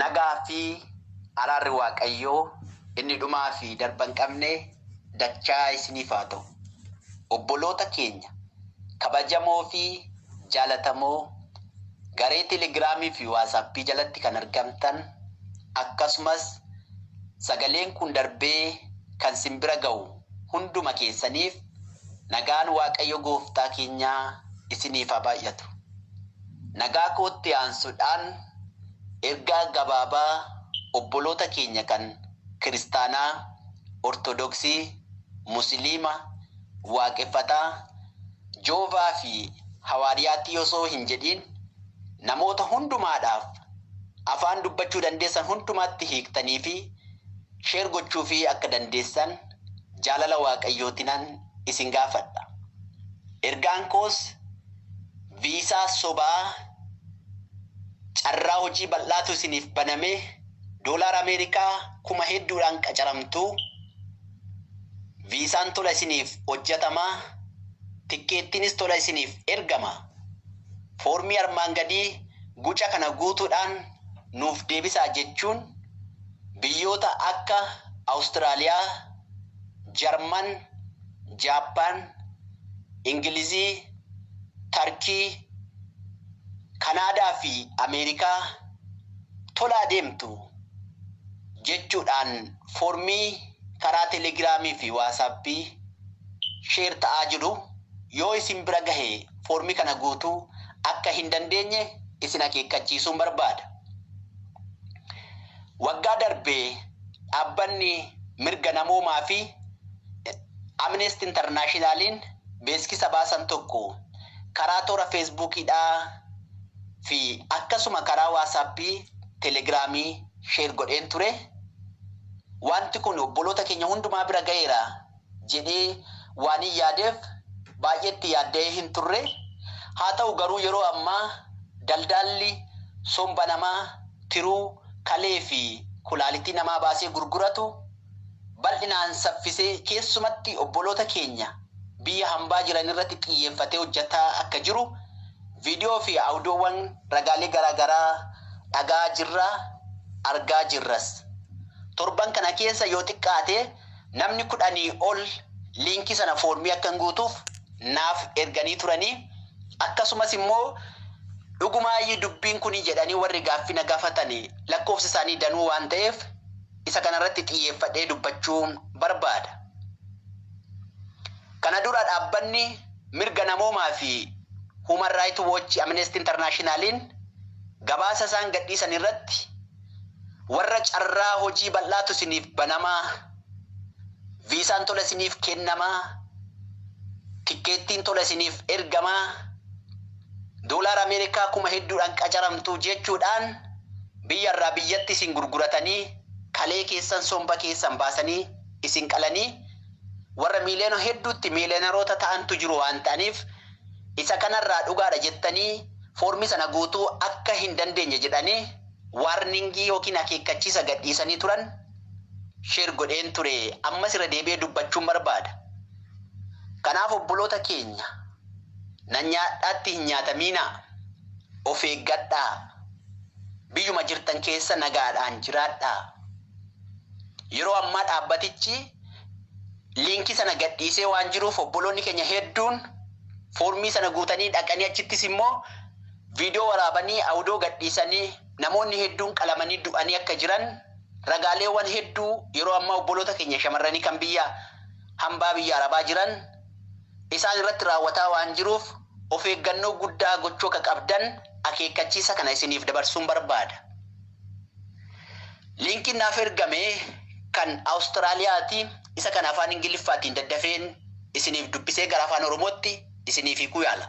Nagaa fi araarri Waaqayyoo inni dhumaa fi darba hin qabne dachaa isiniif haa ta'u. Obboloota keenya kabajamoo fi jaalatamoo garee Telegiraamii fi Waatsaappii jalatti kan argamtan akkasumas sagaleen kun darbee kan sin bira ga'u hunduma keessaniif Nagaan Waaqayyo Gooftaa keenyaa isiniif haa baay'atu. Nagaa kootti aansudhaan ergaa gabaabaa obboloota keenya kan kiristaanaa, ortodoksii, musiliima, waaqeffataa, Joovaa fi hawaariyaattii osoo hin jedhiin namoota hundumaadhaaf afaan dubbachuu dandeessan hundumaatti hiiktanii fi Share gochuufii akka dandeessan jaalala Waaqayyootinan isin gaafadha. Ergaan koos viisaa sobaa carraa hojii bal'aatu isiniif baname, doolaara Ameerikaa kuma hedduudhaan qacaramtu, viisaan tola isiniif hojjatama, tikkeettiinis tola isiniif ergama. Foormii armaan gadii guca kana guutuudhaan nuuf deebisaa jechuun Biyyoota akka Awustiraaliyaa, Jarman, Jaappaan, Ingilizii, Tarkii, Kanaadaa fi Ameerikaa tolaa deemtu jechuudhaan foormii karaa Telegiraamii fi Waasaappii share ta'aa jiru yoo isin bira gahe foormii kana guutuu akka hin dandeenye isin akeekkachiisuun barbaada. Waggaa darbe dhaabbanni mirga namoomaa fi Amnesty Internationaliin beeksisa baasan tokko karaa toora Feesbuukiidhaa fi akkasuma karaa Waasaappii, Telegiraamii share godheen ture. Wanti kun obboloota keenya hundumaa bira ga'eera jedhee waanin yaadeef baay'ee itti yaadda'ee hin turre. Haa ta'u garuu yeroo ammaa daldaalli somba namaa, tiruu, kalee fi kulaalitii namaa baasee gurguratu bal'inaan saffisee keessumatti obboloota keenya biyya hambaa jiran irratti xiyyeeffatee hojjataa akka jiru viidiyoo fi audiowwan ragaalee garaa garaa dhaga'aa jirra, argaa jirras. Torban kana keessa yoo xiqqaate Namni kudhanii ol liinkii sana foormii akkan guutuuf naaf erganii turanii akkasumas immoo dhugumaayyii dubbiin kuni jedhanii warri gaaffii na gaafatani lakkoofsi isaanii danuu waan ta'eef isa kana irratti xiyyeeffadhee dubbachuu barbaada. Kana dura dhaabbanni mirga namoomaa fi Human Right Watch Amnesty International'n gabaasa isaan gadhiisan irratti, Warra carraa hojii bal'aatu isiniif banamaa, viisaan tola isiniif kennamaa, tikkeettiin tola isiniif ergamaa, doolaara Ameerikaa kuma hedduudhaan qacaramtu jechuudhaan biyya irraa biyyatti isin gurguratanii kalee keessan somba keessan baasanii isin qalanii warra miiliyoona hedduutti miiliyonaroota ta'antu jiru waan ta'aniif isa kanarraa dhugaadha jettanii foormii sana guutuu akka hin dandeenye jedhanii warning ykn akeekkachiisa gadhiisanii turan share godheen ture ammas irra deebi'ee dubbachuun barbaada. Kanaaf obboloota keenya nan nyaadhaatti hin nyaatamiinaa, of eeggadhaa, biyyuma jirtan keessa nagaadhaan jiraadhaa. Yeroo ammaa dhaabbatichi liinkii sana gadhiisee waan jiruuf obboloonni keenya hedduun foormii sana guutanii dhaqanii achittis immoo Viidiyoo waraabanii Awudoo gadhiisanii namoonni hedduun qalamanii du'anii akka jiran ragaaleewwan hedduu yeroo ammaa obboloota keenya shamarranii kan biyya hambaa biyya Arabaa jiran isaan irratti raawwataa waan jiruuf of eeggannoo guddaa gochuu akka qabdan akeekkachiisa kana isiniif dabarsuun barbaada. Liinkiin naaf ergame kan Awustiraaliyaati isa kana afaan Ingiliffaatiin daddafeen isiniif dubbisee gara afaan Oromootti isiniif hiikuu yaala.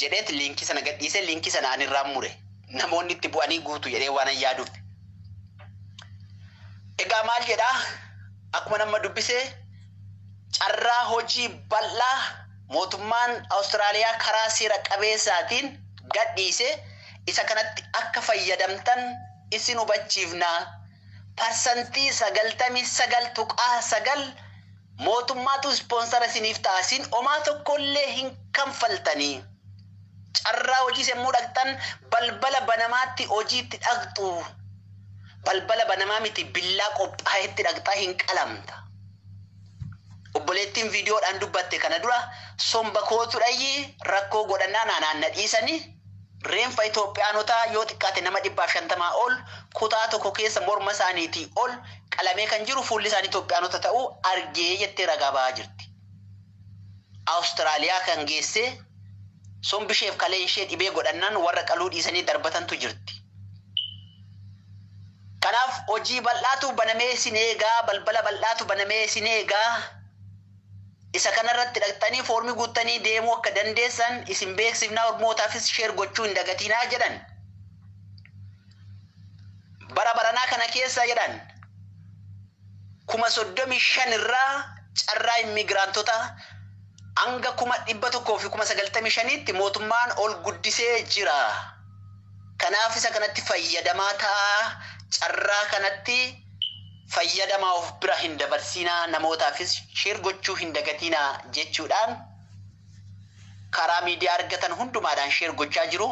jedheet liinkii sana gadhiise liinkii sana ani irraan mure namoonni itti bu'anii guutu jedhee waanan yaaduuf. Egaa maal jedhaa akkuma nama dubbisee carraa hojii bal'aa mootummaan Awustiraaliyaa karaa seera qabeessaatiin gadhiise isa kanatti akka fayyadamtan isin hubachiifna parsantii sagaltamii sagal tuqaa sagal Mootummaatu ispoonsara isiniif ta'a isin omaa tokkollee hin kanfaltanii. Carraa hojiis yemmuu dhaqxan balbala banamaatti hojiitti dhaqxu. Balbala banamaa miti billaa qophaa'etti dhaqxa hin qalamta. Obboleettiin viidiyoodhaan dubbatte kana dura somba kootu dhayyi rakkoo godhannaan anaan na dhiisani. Reenfa Itoophiyaanotaa yoo xiqqaate nama 150 ol kutaa tokko keessa morma isaaniitii ol qalamee kan jiru fuulli isaanii Itoophiyaanota ta'uu arge jettee ragaa ba'aa jirti. Awustiraaliyaa kan geessee sombi isheef kaleen ishee dhibee godhannaan warra qaluu dhiisanii darbatantu jirti. Kanaaf hojii bal'aatu banamee isin eegaa, balbala bal'aatu banamee isin eegaa. Isa kana irratti dhaqxanii foormii guuttanii deemuu akka dandeessan isin beeksifna ormootaafis share gochuu hin dagatiinaa jedhan. Bara baranaa kana keessa jedhan 35,000 irraa carraa immiigiraantota hanga 195,000tti mootummaan ol guddisee jira. Kanaaf isa kanatti fayyadamaa ta'aa carraa kanatti fayyadamaa of bira hin dabarsiinaa namootaafis share gochuu hin dagatiinaa jechuudhaan karaa miidiyaa argatan hundumaadhaan share gochaa jiru.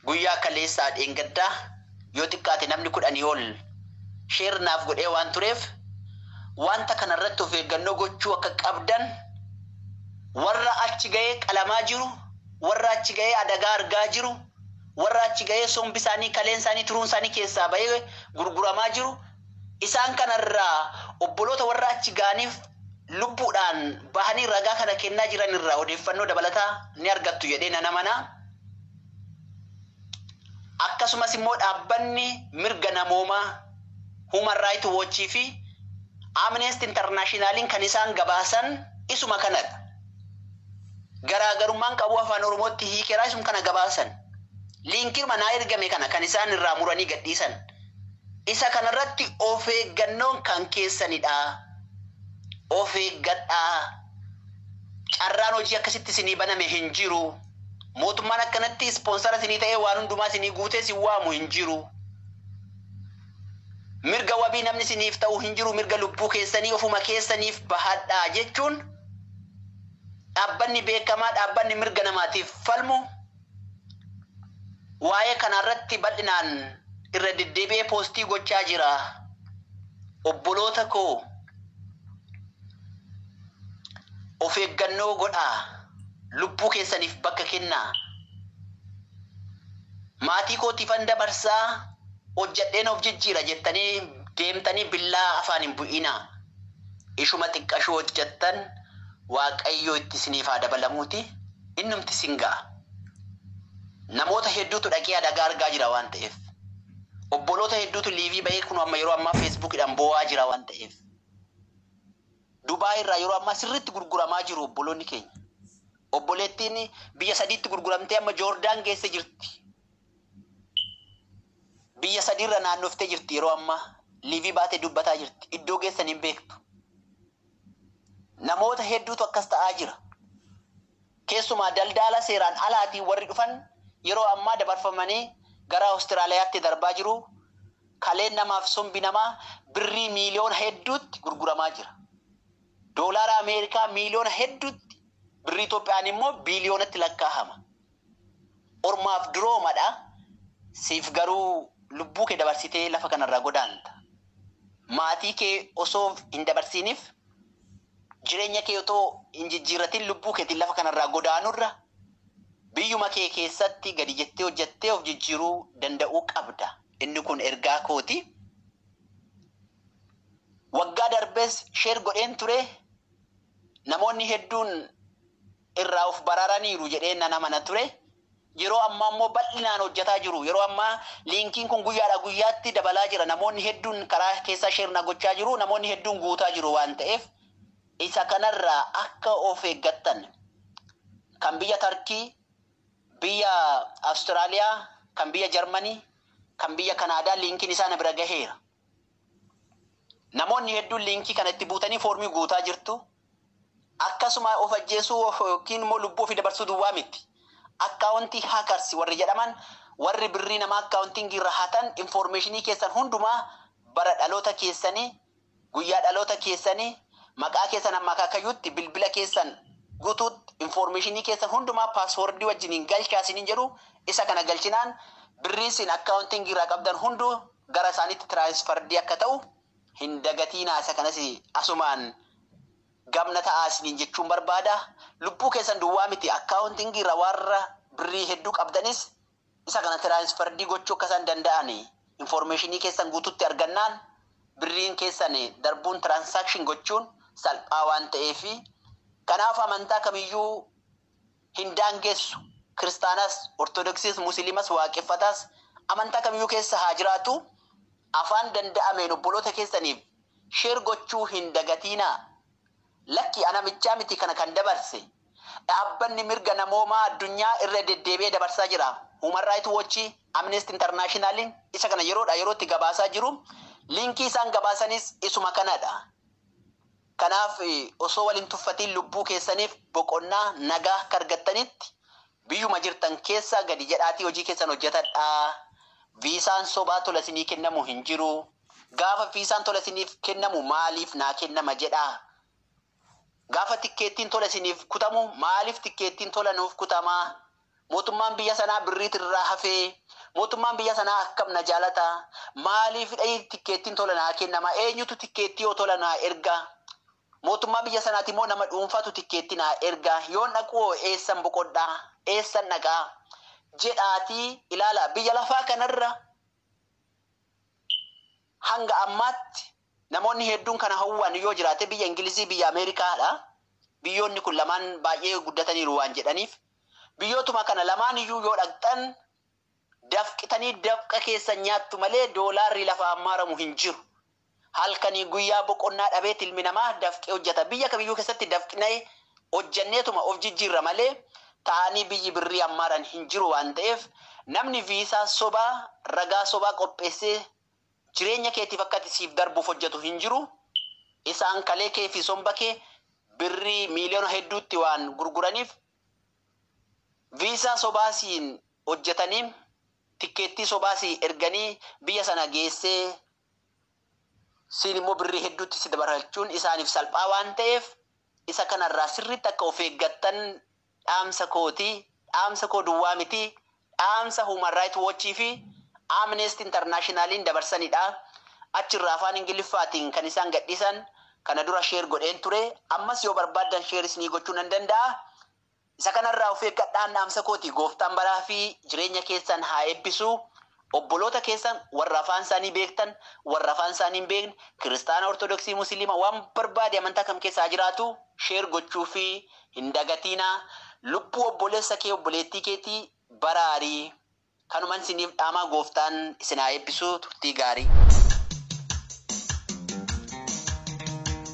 Guyyaa kaleessaa dheengaddaa yoo xiqqaate namni kudhanii ol share naaf godhee waan tureef wanta kana irratti of eeggannoo gochuu akka qabdan warra achi ga'ee qalamaa jiru, warra achi ga'ee adagaa argaa jiru, Warra achi gahee sombi isaanii, kaleen isaanii, tiruun isaanii keessaa bahee gurguramaa jiru. Isaan kana irraa obboloota warra achi gahaniif lubbuudhaan bahanii ragaa kana kennaa jiran irraa odeeffannoo dabalataa ni argattu jedhee nan amana. Akkasumas immoo dhaabbanni mirga namoomaa Human Right Watch fi Amnesty International'n kan isaan gabaasan isuma kanadha. garaagarummaan qabuu afaan oromootti hiikeraa isum kana gabaasan liinkirma naa ergame kana kan isaan irraa muranii gadhiisan isa kanarratti of eeggannoon kan keessanidha of eeggadhaa carraan hojii akkasitti isinii baname hin jiru mootummaan akkanatti ispoonsara isinii ta'ee waan hundumaa isinii guutee isin waamu hin jiru. Mirga wabii namni isiniif ta'u hin jiru mirga lubbuu keessanii ofuma keessaniif bahadhaa jechuun dhaabbanni beekamaa dhaabbanni mirga namaatiif falmu waa'ee kanaarratti bal'inaan irra deddeebi'ee poostii gochaa jira. Obboloota koo of eeggannoo godhaa lubbuu keessaniif bakka kennaa. Maatii kootiifan dabarsa, hojjedheen of jijjiira jettanii deemtanii billaa afaan hin bu'iinaa. Ishuma xiqqashuu hojjettan Waaqayyo itti isiniif haa dabalamuuti, innumti isin ga'a. Namoota hedduutu dhaqee adagaa argaa jira waan ta'eef. Obboloota hedduutu liivii ba'ee kunoo amma yeroo ammaa feesbuukiidhaan boo'aa jira waan ta'eef. Dubaay irraa yeroo ammaa sirriitti gurguramaa jiru obboloonni keenya. Obboleettiin biyya sadiitti gurguramtee amma Joordaan geesse jirti. Biyya sadiirra naannoftee jirti yeroo ammaa. Liivii baatee dubbataa jirti. Iddoo geessan hin beektu. Namoota hedduutu akkas ta'aa jira. Keessumaa daldaala seeraan alaatiin warri dhufan yeroo ammaa dabarfamanii gara Awustiraaliyaatti darbaa jiru, kaleen namaa fi sombi namaa birrii miiliyoona hedduutti gurguramaa jira. Doolaara Ameerikaa miiliyoona hedduutti, birrii Itoophiyaan immoo biiliyoonatti lakkaahama. Ormaaf durooma dha, siif garuu lubbuu kee dabarsitee lafa kanarraa godaanta. Maatii kee osoo hin dabarsiiniif Jireenya kee otoo hin jijjiirratin lubbuu keetiin lafa kanarraa godaanurra biyyuma kee keessatti gadi jettee hojjettee of jijjiiruu danda'uu qabda. Inni kun ergaa kooti. Waggaa darbes share godheen ture. Namoonni hedduun irraa of baraaraniiru jedheen nan amana ture. Yeroo ammaa immoo bal'inaan hojjataa jiru. Yeroo ammaa liinkiin kun guyyaadhaa guyyaatti dabalaa jira. Namoonni hedduun karaa keessaa share na gochaa jiru. Namoonni hedduun guutaa jiru waan ta'eef isa kanarraa akka of eeggattan kan biyya Tarkii, biyya Awustiraaliyaa, kan biyya Jarmanii, kan biyya Kanaadaa liinkiin isaa na bira gaheera. Namoonni hedduun liinkii kana itti buutanii foormii guutaa jirtu. Akkasuma of ajjeesuu ykn immoo lubbuu ofii dabarsuu duwwaa miti. Akkaawontii hackers warri jedhaman warri birrii namaa accounting irra hatan information keessan hundumaa bara dhaloota keessanii, guyyaa dhaloota keessanii, maqaa keessan hamma akaakayyuutti, bilbila keessan gutuutti information keessan hundumaa password wajjiniin galchaa isiniin jedhu isa kana galchinaan birriin isin accounting irraa qabdan hunduu gara isaaniitti transferred akka ta'u Hin dagatiinaa isa kanas asumaan gab na ta'aa isiniin jechuun barbaada. Lubbuu keessan duwwaa miti accounting irra warra birrii hedduu qabdanis isa kana transferred gochuu akka isaan danda'an information keessan guututti argannaan birriin keessan darbuun transaction gochuun salphaa waan ta'eef kanaaf amantaa kamiyyuu hin daangessu. Kiristaanas, Ortodoksiis, Musiliimas, Waaqeffataas, amantaa kamiyyuu keessa haa jiraatu, afaan danda'ameen obboloota keessaniif share gochuu hin dagatiinaa. Lakki ana bichaa miti kana kan dabarse. Dhaabbanni mirga namoomaa addunyaa irra deddeebi'ee dabarsaa jira. Human Right Watch, Amnesty International isa kana yeroodhaa yerootti gabaasaa jiru. Linkii isaan gabaasanis isuma kanadha. Kanaaf osoo wal hin tuffatiin lubbuu keessaniif boqonnaa, nagaa, akka argattanitti biyyuma jirtan keessaa gadi jedhaatii hojii keessan hojjetadhaa. Viisaan sobaa tola isinii kennamu hin jiru. Gaafa viisaan tola isiniif kennamu maaliif naa kennama jedhaa. Gaafa tikkeettiin tola isiniif kutamu maaliif tikkeettiin tola nuuf kutamaa Mootummaan biyya sanaa birriit irraa hafee? Mootummaan biyya sanaa akkam na jaalata? Maaliifidha tikkeettiin tola naa kennama? Eenyutu tikkeettii yoo tola naa erga? Mootummaa biyya sanaati moo nama dhuunfaatu tikkeettii naa erga? Yoon dhaqu hoo eessan boqodha? Eessan dhaqa? Jedhaatii ilaalaa. Biyya lafaa kanarra hanga ammaatti Namoonni hedduun kana hawwan yoo jiraate biyya Ingilizii, biyya Ameerikaa dha. Biyyoonni kun lamaan baay'ee guddataniiru waan jedhaniif. Biyyootuma kana lamaan iyyuu yoo dhaqxan dafqitanii dafqa keessan nyaattu malee doolaarri lafaan maramu hin jiru. Halkanii guyyaa boqonnaa dhabeet ilmi namaa dafqee hojjeta. Biyya kamiyyuu keessatti dafqnee hojjenneetuma of jijjiirra malee taa'anii biyyi birrii hammaaran hin jiru waan ta'eef namni viisaa sobaa, ragaa sobaa qopheessee Jireenya keetiif akka ati siif darbuuf hojjatu hin jiru. Isaan kalee kee fi somba kee birrii miiliyoona hedduutti waan gurguraniif viisaa sobaa siin hojjatanii tikkeettii sobaa sii erganii biyya sana geessee siin immoo birrii hedduutti si dabarfachuun isaaniif salphaa waan ta'eef isa kanarraa sirriitti akka of eeggattan dhaamsa kooti, dhaamsa koo duwwaa miti, dhaamsa Human Right Watch fi Amnesty International'n dabarsanidha. Achi irraa afaan Ingiliffaatiin kan isaan gadhiisan kana dura share godheen ture, ammas yoo barbaaddan share isinii gochuu nan danda'a. Isa kana irraa of eeggadhaan dhaamsa kooti. Gooftaan baraa fi jireenya keessan haa eebbisu. Obboloota keessan warra afaan isaanii beektan, warra afaan isaanii hin beekne, Kiristaana, Ortodoksii, Musiliima, waan barbaade amantaa kam keessa haa jiraatu, share gochuufii hin dagatiinaa. Lubbuu obboleessa kee, obboleettii keetii baraari. Kanuman isiniif dhaamaa Gooftaan isin haa eebbisu. Turtii gaarii.